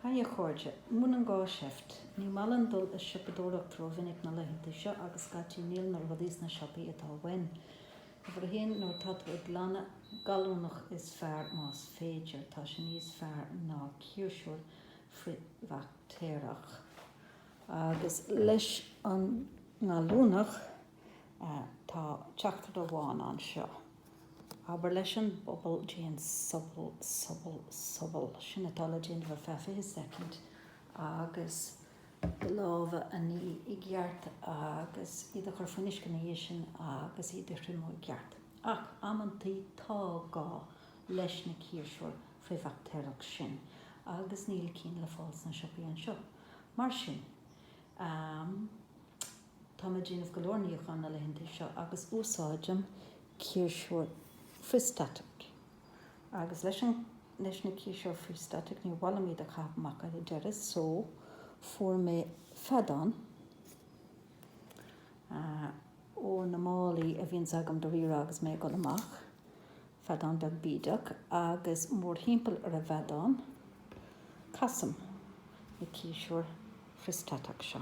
Hi a chairde, múineann gá seift, ní maith liom dul ag siopadóireacht ró-mhinic na laethanta seo agus scaití níl na rudaí sna siopaí atá uaim. Uimhir a haon, nuair atá tú ag glanadh gallúnach is fearr más féidir, tá sé níos fearr ná ciarsúr frithbhaictéarach. Agus leis an ngallúnach. Tá teachtaireacht amháin anseo. Abair leis an bpobal déan sobal, sobal, sobal. Sin atá le déanamh ar feadh fiche soicind agus do lámha a ní i gceart agus iad a chur faoin uisce ina dhiaidh sin agus iad a thriomú i gceart. Ach amantaí tá gá leis na ciarsúir frithbhaictéarach sin agus níl cinn le fáil sna siopaí anseo. Mar sin. Tá mé ag déanamh go leor níocháin na laethanta seo agus úsáidim ciarsúir frithstatach. Agus leis an, leis na ciarsúir frithstatach ní maith liom iad a chaitheamh amach ar deireadh so fuair mé feadán ah ó na málaí a bhíonns agam do Rírá agus mé ag dul amach, feadán beag bídeach agus mórthimpeall ar an bhfeadán casaim na ciarsúir frithstatach seo.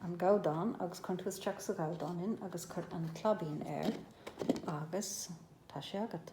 an gabhdán agus cuireann tú isteach sa ghabhdán é agus cuir an claibín air agus tá sé agat.